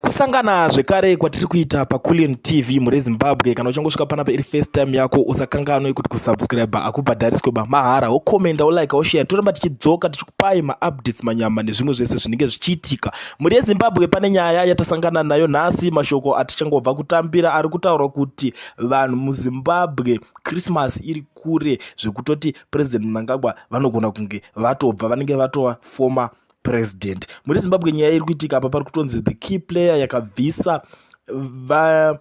kusangana zvekare kwatiri kuita paculian tv mhuri yezimbabwe kana uchangosvika panapa iri first time yako usakanganwe kuti kusubscribe akubhadhariswe ba mahara wokomenda wolike woshare toramba tichidzoka tichikupai maupdates manyama nezvimwe zvese zvinenge zvichiitika mhuri yezimbabwe pane nyaya yatasangana nayo nhasi mashoko atichangobva kutambira ari kutaura kuti vanhu muzimbabwe christmas iri kure zvekutoti president mnangagwa vanogona kunge vatobva vanenge vatova former president muri zimbabwe nyaya iri kuitika apa pari kutonzi the key player yakabvisa va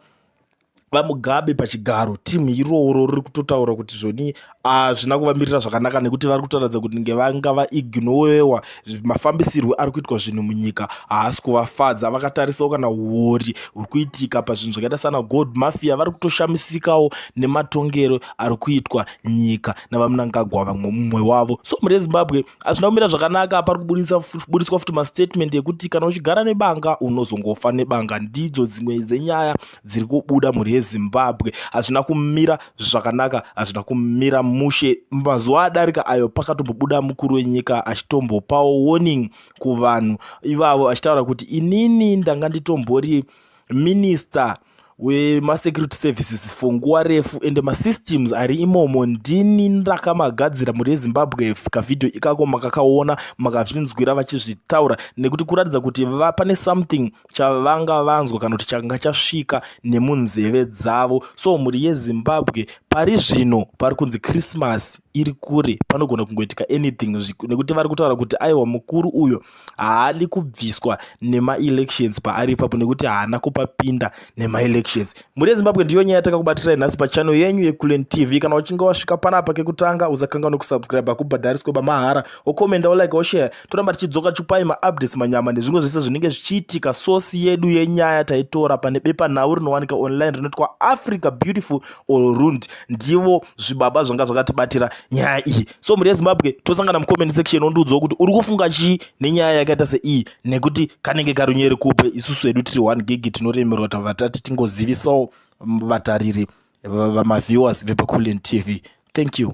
vamugabe pachigaro timu iroro riri kutotaura kuti zvoni hazvina ah, kuvamirira zvakanaka nekuti vari kutoratidza kuti nge vanga vaignowewa mafambisirwo ari kuitwa zvinhu munyika haasi kuvafadza vakatarisawo kana uori huri kuitika pazvinhu zvakaita sana gold mafia vari kutoshamisikawo nematongero ari kuitwa nyika navamunangagwa vamwe mumwe wavo so mune zimbabwe hazvina kumira zvakanaka pari kuburitswa futi mastatement ekuti kana uchigara nebanga unozongofa nebanga ndidzo dzimwe dzenyaya dziri kubuda mhuri yezimbabwe hazvina kumira zvakanaka hazvina kumira mushe mazuva adarika ayo pakatombobuda mukuru wenyika achitombopawo warning kuvanhu ivavo achitaura kuti inini ndanga nditombori minista wemasecurity services for nguva refu ende masystems ari imomo ndini ndakamagadzira mhuri yezimbabwe kavhidhiyo ikako makakaona makazvinzwira vachizvitaura nekuti kuratidza kuti pane something chavanga vanzwa kana kuti changa chasvika nemunzeve dzavo so mhuri yezimbabwe pari zvino pari kunzi christmas iri kure panogona kungoitika anything nekuti vari kutaura kuti aiwa mukuru uyo haadi kubviswa nemaelections paari ipapo nekuti haana kupapinda nemaelections mhuri yezimbabwe ndiyo nyaya yatakakubatirai nhasi pachano yenyu yekulen tv kana uchinge wasvika panapa kekutanga usakanga nekusubscribe hakubhadhariswe bamahara okomenda olike oshare toramba tichidzoka chupai maupdates manyama nezvimwe zvese zvinenge zvichiitika sosi yedu yenyaya taitora pane bepanhau rinowanika online rinoitwa africa beautiful or rund ndivo zvibaba zvanga zvakatibatira nyaya iyi so mhuri yezimbabwe tosangana mucomment section ondiudzawo kuti uri kufunga chii nenyaya yakaita seiyi nekuti kanenge karunyeri kupe isusu hedu tiri one gigi tinoremerwa tava tati tingozivisawo vatariri vamaviewers vepaculent tv thank you